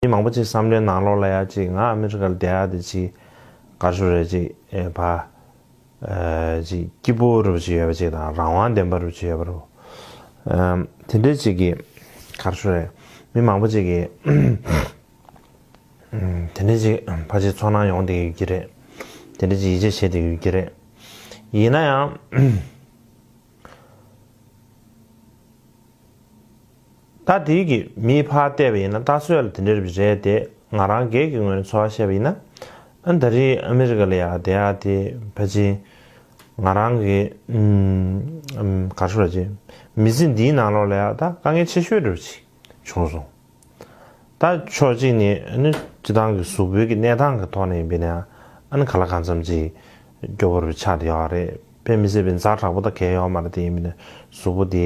མི་མང་པོ་ཅིག་བསམ་བློའི་ནང་ལོག་ལ་ཡ་ཅིག་ང་ཨ་མི་རི་ཀ་ལ་བསྡད་ཡག་དེ་ཅིག་གར་ཞུགས་རེད་ཅིག་བ། ཅིག་སྐྱིད་པོ་རུ་བྱེད་ཡོད་པ་ཅིག་དང་རང་དབང་ལྡན་པ་རུ་བྱེད་ཡོད་པ་རུ། དེ་འདྲས་ཅིག་གིས་གར་ཞུགས་རེད། མི་མང་པོ་ཅིག་གིས། དེ་འདྲས་ཅིག་ཕ་ཅིག་ཚོགས་ནང་ཡོང་བསྡད་ཡོད་ཀྱི་རེད། དེ་འདྲས་ཅིག་ཡིད་ཆེས་བྱེད་བསྡད་ཡོད་ཀྱི་རེད། ཡིན་ན་ཡང། ད་དེའི་གི་མིའི་ཕ་བལྟས་པ་ཡིན་ན་ལྟ་ཚོད་ལ་དེ་འདྲའི་རིགས་རེད་དེ་ང་རང་སྒེར་གྱི་ངོས་ནས་ཚོར་བ་བཤད་པ་ཡིན་ན། ཨ་མདའ་རིའི་ཨ་མི་རི་ཀ་ལ་ཡག་བསྡད་ཡག་དེ་ཕ་ཆིན། ང་རང་གི། གར་ཤོར་རྗེས་མི་ཚེ་འདིའི་ནང་ལོག་ལ་ཡག་ད་དཀའ་ངལ་ཆེ་ཤོས་རེ་བ་ཞིག་བྱུང་སོང། ད་ཕྱོགས་གཅིག་ནས་ཨ་ཅི་ཐང་གི་གཟུགས་པོའི་གི་གནས་སྟངས་གི་ཐོག་ནས་ཡིན་པས་ན་ཨ་ག་ལ་གང་འཚམ་ཅིག་སྐྱོ་བོ་རེ་བ་ཆགས་དེ་ཡོག་རེད་དཔེ་མི་སྲིད་པའི་མཛའ་དྲག་པོ་ད་གས་ཡོག་མ་རེད་དེ་ཡིན་པས་ན་གཟུགས་པོ་དེ་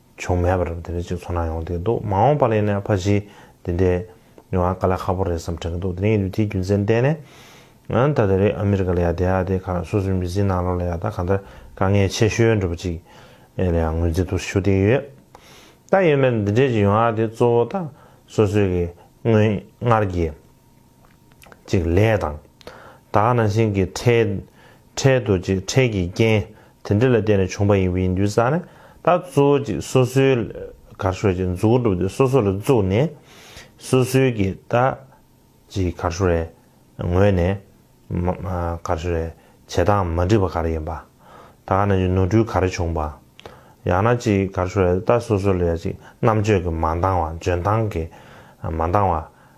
བྱུང་མེད་པར་དེ་འདྲའི་ཅིག་ཚོར་སྣང་ཡོང་དུས་འདུག་མ་འོངས་པ་ལ་ཡིན་ན་ཕ་གཞིས་འདི་འདྲའི་མྱོང་བ་ག་ལ་ཁག་པོ་རེད་བསམ་དྲན་གྱི་འདུག་དེ་རིང་ཡུལ་དེའི་རྒྱུ་མཚན་བལྟས་ནས། ད་ལྟ་རི་ཨ་མི་རི་ཀ་ལ་ཡ་དེ་ཡ་དེ་ཁག་སོ་སོའི་མི་ཚེའི་ནང་ལོགས་ལ་ཡ་ད་གང་ལྟར་དཀའ་ངལ་ཆེ་ཤོས་འགྲོ་པ་ཅིག་ཨེ་ལ་ཡང་ངོས་འཛིན་ཐུགས་སུ་ཞུ་བསྡད་ཡོད། ད་ཡོད་མེད་འདི་འདྲའི་ཅིག་ཡོང་བ་དེ་གཙོ་བོ་ད་སོ་སོའི་གི་སྔོན་སྔར་གྱི། ཅིག་ལས་དང། དག་ན་ཤིང་གི་ཁྲལ། ཁྲལ་དུ་ཅིག་ཁྲལ་གྱི་རྐྱེན། དེ་འདྲ་ལ་བརྟེན་ནས་བྱུང་བ་ཡིན་པའི་འདུན་བསགས་ནས་ད་གཙོ་བོ་ཅིག་སོ་སོའི། གར་ཤོར་ཅིག་འཛུགས་སྒྲུབ་དེ་སོ་སོ་ལ་བཙུགས་ནས། སོ་སོའི་གི་ད། ཅིག་གར་ཤོར་རེ། ངོས་ནས། གར་ཤོར་རེ། བྱེད་སྟངས་མ་འགྲིག་པ་ག་རེ་ཡིན་པ། དག་ན་ཅིག་ནོར་འཁྲུལ་ག་རེ་བྱུང་བ། ཡང་ན་ཅིག་གར་ཤོར་རེ་ད་སོ་སོ་ལ་ཡང་ཅིག་རྣམ་དཔྱོད་ཀྱི་མ་འདང་བ་འཇོན་ཐང་གི། མ་འདང་བ།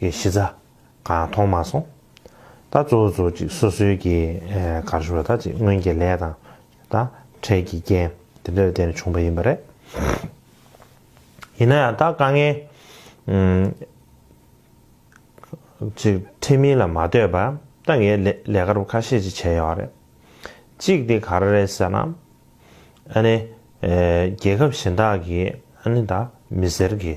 གི་གཞི་རྩ་གང་མཐོང་མ་སོང། ད་གཙོ་བོ་ཅིག་སོ་སོའི་གི་གར་ཞུ་བ་དག་ཅིག་སྔོན་གྱི་ལས་དང་ད་འཕྲལ་གྱི་རྐྱེན་དེ་འདྲ་ལས་བརྟེན་ནས་བྱུང་བ་ཡིན་པ་རེད། ཡིན་ན་ཡང་ད་དཀའ་ངལ་ཅིག་འཕྲད་མིན་ལ་མ་ལྟོས་པར་ད་ངས་ལས་ཀར་བ་ཁ་ཤས་ཅིག་བྱས་ཡོད་རེད། གཅིག་དེ་ག་རེ་རེད་ཟེར་ན། ཨ་ནི་རྒྱལ་ཁབ་གཞན་དག་གིས་ཨ་ནི་ད་མི་སེར་གི་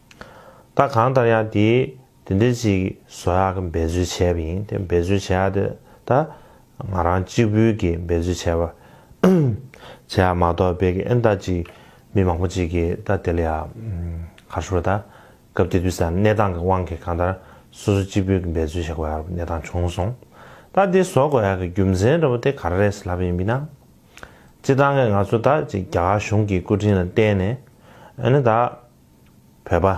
ད་གང་ལྟར་ཡང་དེ་དེ་འདྲའི་ཅིག་བཟོ་ཡག་གི་འབད་རྩོལ་བྱས་པ་ཡིན་དེ་འབད་རྩོལ་བྱས་ཡག་དེ་ད་ང་རང་གཅིག་བུ་གི་འབད་རྩོལ་བྱས་པ་བྱས་ཡག་མ་གཏོགས་དཔེ་གི་ཨེ་ད་ཅིག་མི་མང་པོ་ཅིག་གི་ད་དེ་ལ་ཡག་ག་ཧྲུལ་བོ་ད་སྐབས་དེ་དུས་སམ་གནས་སྟངས་གི་དབང་གིས་གང་ལྟར་སོ་སོ་གཅིག་བུ་གི་འབད་རྩོལ་བྱེད་དགོས་ཡག་གནས་སྟངས་བྱུང་སོང་ད་དེ་བཟོ་དགོས་ཡག་གི་རྒྱུ་མཚན་འདྲ་བོ་དེ་ག་རེ་རེད་ཟེར་ལབ་པ་ཡིན་མི་སྣང་སྤྱི་བཏང་གི་ང་ཚོ་ད་ཅིག་རྒྱ་གར་གཞུང་གི་སྐུ་དྲིན་ལ་བརྟེན་ནས་ཨེ་ན་ད། བོད་པ།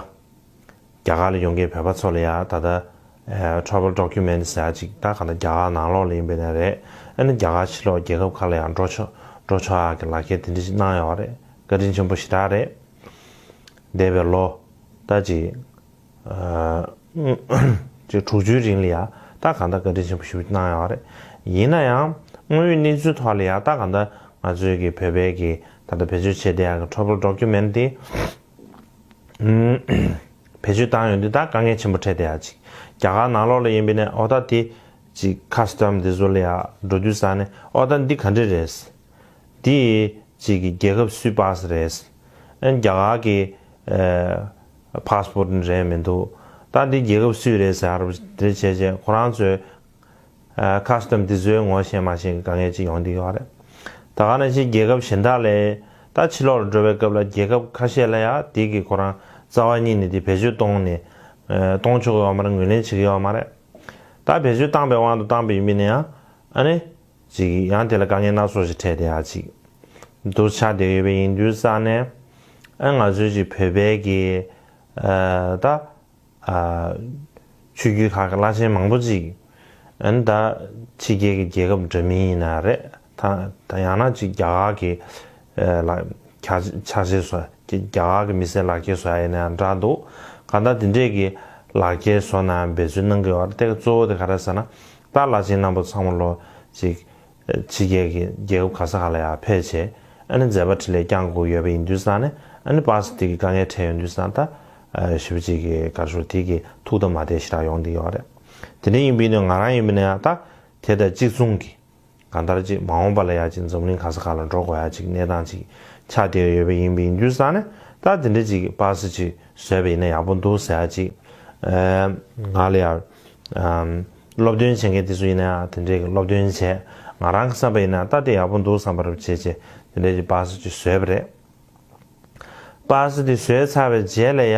རྒྱ་གར་ལ་ཡོང་མཁན་བོད་པ་ཚོ་ལ་ཡང་ད་ལྟ། Travel Documents། ཟེར་ཡག་ཅིག་ད་ག་ད་རྒྱ་གར་ནང་ལོགས་ལ་ཡིན་པའི་ནས་རེད། ཨེ་ན་རྒྱ་གར་ཕྱི་ལོགས་རྒྱལ་ཁབ་ཁག་ལ་ཡང་འགྲོ་ཆོག་འགྲོ་ཆོག་ཡག་གི་ལག་ཁྱེར་དེ་འདྲི་ཞིག་གནང་ཡོག་རེད་བཀའ་དྲིན་ཆེན་པོ་ཞེ་དྲག་རེད། འདས་པའི་ལོ། ད་ཅིག། ཅེས་དྲུག་ཅུའི་རིང་ལ་ཡང་དག་གང་འདྲ་བཀའ་དྲིན་ཆེན་པོ་ཞུ་གནང་ཡོད་པ་རེད། ཡིན་ན་ཡང་དངོས་ཡོད་གནས་ཚུལ་ཐོག་ལ་ཡང་དག་གང་འདྲ་ང་ཚོའི་གི་བོད་པའི་གི་ད་ལྟ་བེད་སྤྱོད་བྱས་བསྡད་ཡག་གི་ཁྲོ་བོར་འགྲོ་རྒྱུ་མེད་ན་དེ། བེད་སྤྱོད་བཏང་ཡོད་འདི་དག་དཀའ་ངལ་ཆེན་པོ་འཕྲད་བསྡད་ཡག་ཅིག་རྒྱ་གར་ནང་ལོག་ལ་ཡིན་པའི་ནས་ཨོ་ད་དེ། ཅིག Custom འདི་ཚོ་ལ་ཡང་འགྲོ་དུས་ས་ནས་ཨོ་ད་འདི་ག་འདྲས་རེད། འདི། ཅིག་གི་རྒྱལ་ཁབ་སུའི་པགས་སུ་རེད། ཨན་རྒྱ་གར་གི། Passport ནི་རན་མི་འདུག་ད་འདི་རྒྱལ་ཁབ་སུས་རེད་ཟེར་རབས་དེ་བྱས་རྗེས་ཁོ་རང་ཚོའི། Custom དེ་ཚོའི་ངོ་ཤེས་མ་ཤེས་ཀྱི་དཀའ་ངལ་ཅིག་ཡོང་འདི་ཡོད་རེད། ད་ག་ནས་ཕྱིན་རྒྱལ་ཁབ་གཞན་དག་ལས། ད་ཕྱི་ལོག་ལ་འགྲོ་བའི་སྐབས་ལ་རྒྱལ་ཁབ་ཁ་ཤས་ལ་ཡང་དེ་གི་ཁོ་རང་རྩ་བ་ཉིད་ནས་དེ་བེད་སྤྱོད་གཏོང་ནས། གཏོང་ཆོག་གི་ཡོད་མ་རེད་ངོས་ལེན་བྱེད་ཀྱི་ཡོད་མ་རེད། ད་བེད་སྤྱོད་བཏང་པའི་དབང་དུ་བཏང་པའི་ཡིན་པས་ནའང་ཨ་ནི། ཅིག། ཡང་དེ་ལ་དཀའ་ངལ་སྣ་ཚོགས་ཤིག་འཕྲད་དེ་ཨ་ཅིག། འདུར་ཆགས་བསྡད་ཡོད་པའི་ཡིན་དུས་རྩ་ནས། ཨ་ང་ཚོའི་ཅིག་བོད་པའི་གི། ད། ཆོས་བརྒྱུད་ཁག་གི་བླ་ཆེན་མང་པོ་ཅིག། ཨན་ད། ཕྱི་རྒྱལ་གྱི་རྒྱལ་ཁབ་འདྲ་མིན་ཡིན་ན་རེད། ད་ཡང་ན་ཅིག་རྒྱ་གར་གྱི། ལ། ཁྱ། ཕྱག་བྱེད་བཟོ། རྒྱ་གར་གྱི་མི་སེར་ལག་འཁྱེར་བཟོ་ཡ་ཡིན་ན་འདྲ་འདུག་ག་ད་དེ་འདྲས་གྱི། ལག་འཁྱེར་བཟོ་ན་འབད་རྩོལ་གནང་གི་ཡོད་རེད་ད་ག་གཙོ་བོ་དེ་ག་རེད་ཟེར་ན། ཏཱ་བླ་ཆེན་རྣམ་པ་ཚང་མ་ལོ་གཅིག། ཕྱི་རྒྱལ་གྱི་རྒྱལ་ཁབ་ག་ས་ག་ལ་ཡང་ཕེབས་ཆེད། ཨ་ནི་མཛད་པ་ཁྲི་ལས་བསྐྱངས་དགོས་ཡོད་པ་ཡིན་དུས་སང་ནི་ཨ་ནི་པཱ་སི་ཏིག་གི་དཀའ་ངལ་འཕྲད་ཡོད་དུས་སང་ཏཱ། ཞི་བ་གཅིག་གི་གར་ཤོར་དེ་གི་ཐུགས་དམ་མ་བདེ་ཞེ་དྲག་ཡོང་གི་ཡོད་རེད། དེ་འདྲ་ཡིན་པས་ནི་ང་རང་ཡིན་པས་ནི་ཨ་ཏཱ། དེ་ལྟར་གཅིག་མཚུངས་ཀྱི། གང་ལྟར་ཅིག་མ་འོངས་པ་ལ་ཡ་གཅིག་འཛོམས་གླིང་ག་ས་ག་ལ་འགྲོ་དགོས་ཡ་གཅིག་གནས་སྟངས་ཅིག་ཆགས་བསྡད་ཡོད་པས་ཡིན་པས་ཡིན་རྒྱུ་བསམ་ནས་ད་དེ་འདྲ་ཅིག་གི་པར་སེ་ཅིག་བཟོས་པ་ཡིན་ན་ཡག་པོ་འདུག་ཟེར་ཡ་གཅིག་ང་ལ་ཡར་སློབ་སྟོན་བྱེད་མཁན་དེ་ཚོ་ཡིན་ན་ཡང་དེ་འདྲས་ཀྱི་སློབ་སྟོན་བྱས་ང་རང་གི་བསམ་པ་ཡིན་ན་ད་དེ་ཡག་པོ་འདུག་བསམ་པ་རུ་བྱས་རྗེས་དེ་འདྲས་ཀྱི་པར་སེ་ཅིག་བཟོས་པ་རེད། པར་སེ་དེ་བཟོས་ཚར་བའི་རྗེས་ལ་ཡ་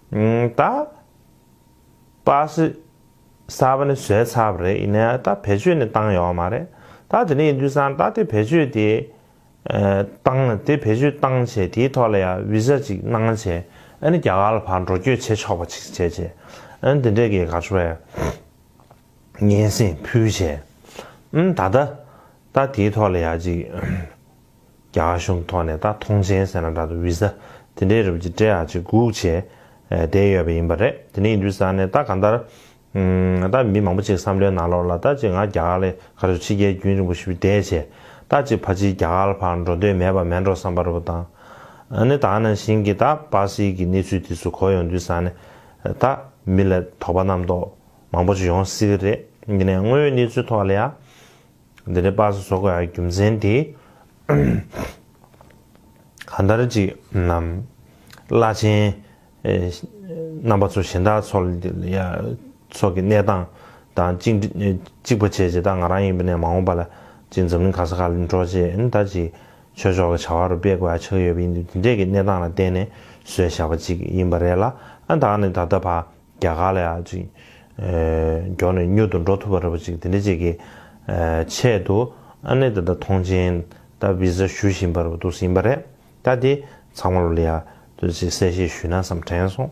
ད་པ་སི་ས་པ་ནི་བཟོས་ཚར་བ་རེད་ཡིན་ནའི་ད་བེད་སྤྱོད་ནི་བཏང་ཡོད་མ་རེད་ད་དེ་ནས་ཡིན་དུས་སང་ད་དེ་བེད་སྤྱོད་དེ་བཏང་དེ་བེད་སྤྱོད་བཏང་བྱས་དེའི་ཐོག་ལ་ཡ་བི་ཟ་ཅིག་གནང་བྱས་ཨ་ནི་རྒྱ་གར་ལ་ཕར་འགྲོ་བསྐྱོད་བྱེད་ཆོག་པ་ཅིག་བྱས་བྱས་ཨ་ནི་དེ་འདྲའི་གེ་ག་བྱས་སྙན་སེང་ཕུལ་བྱས་ཨ་ནི་ད་ད་ད་དེའི་ཐོག་ལ་ཡ་ཅིག་རྒྱ་གཞུང་ཐོག་ནས་ད་ཐོངས་ཆེན་ཟེར་ན་འདྲ་འདུག Visa དེ་འདྲའི་རུབ་ཀྱི་སྤྲེལ་ཧ་ཅིག་སྒུག་བྱས་བསྡད་ཡོད་པ་ཡིན་པ་རེད་དེ་ནས་འདུས་ས་ནས་ད་གང་ལྟར། ད་མི་མང་པོ་ཅིག་བསམ་བློའི་ནང་ལོག་ལ་ད་ཅིག་ང་རྒྱ་གར་ལས་ག་རེ་བྱུང་ཕྱི་རྒྱལ་རྒྱུན་རིང་པོ་ཞིག་བསྡད་བྱས་ད་ཅིག་ཕ་ཅིའི་རྒྱ་གར་བར་འགྲོ་འདོད་མེད་པ་མེད་འགྲོ་བསམ་པ་རུ་བཏང་ནས་ད་ནང་བཞིན་གྱི་ད་སྤ་སེ་གི་གནས་ཚུལ་དེ་ཚོ་གོ་ཡོང་འདུས་ས་ནས་ད་མི་ལ་དོགས་པ་རྣམ་རྟོག་མང་པོ་ཅིག་ཡོང་སྲིད་གི་རེད་ཡིན་ནའི་དངོས་ཡོད་གནས་ཚུལ་ཐོག་ལ་ཡ། འདི་ནི་པགས་སུ་སོགས་པའི་རྒྱུ་མཚན་དེས་གང་ལྟར་ཅིག། བླ་ཆེན་རྣམ་པ་ཚོ་གཞན་དག་ཚོ་སོགས་ཀྱི་གནས་སྟངས་དང་གཅིག་པ་བྱས་རྗེས་ད་ང་རང་ཡིན་པ་ནས་མ་འོངས་པ་ལ་ཅིག་འཛམ་གླིང་ག་ས་ག་ལ་འགྲོ་རྗེས་ད་ཅིག་ཆོས་ཕྱོགས་ལ་བྱ་བ་རུ་སྤེལ་དགོས་ཡ་ཆགས་ཡོད་པ་ཡིན་དུས་འདི་འདྲས་ཀྱི་གནས་སྟངས་ལ་བརྟེན་ནས་བཟོས་བཞག་པ་ཅིག་ཡིན་པ་རེད་ལ་ཨ་ད་ནི་ད་ལྟ་བར། རྒྱ་གར་ལ་ཡང་ཅིག། མགྱོགས་ནས་མྱུར་དུ་འགྲོ་ཐུབ་པར་རེ་བ་ཅིག་དེ་འདྲ་ཅིག་གི། ཆེད་དུ། ཨ་ནེ་ད་ལྟ་ཐོངས་མཆན། ད Visa ཞུ་བཞིན་པར་འདུག་ཟིན་པ་རེད། ད་དེ། ཚང་མར་ལ་ཡ། དུ་ཅིག་གསལ་བཤད་ཞུས་ན་བསམ་དྲན་སོང།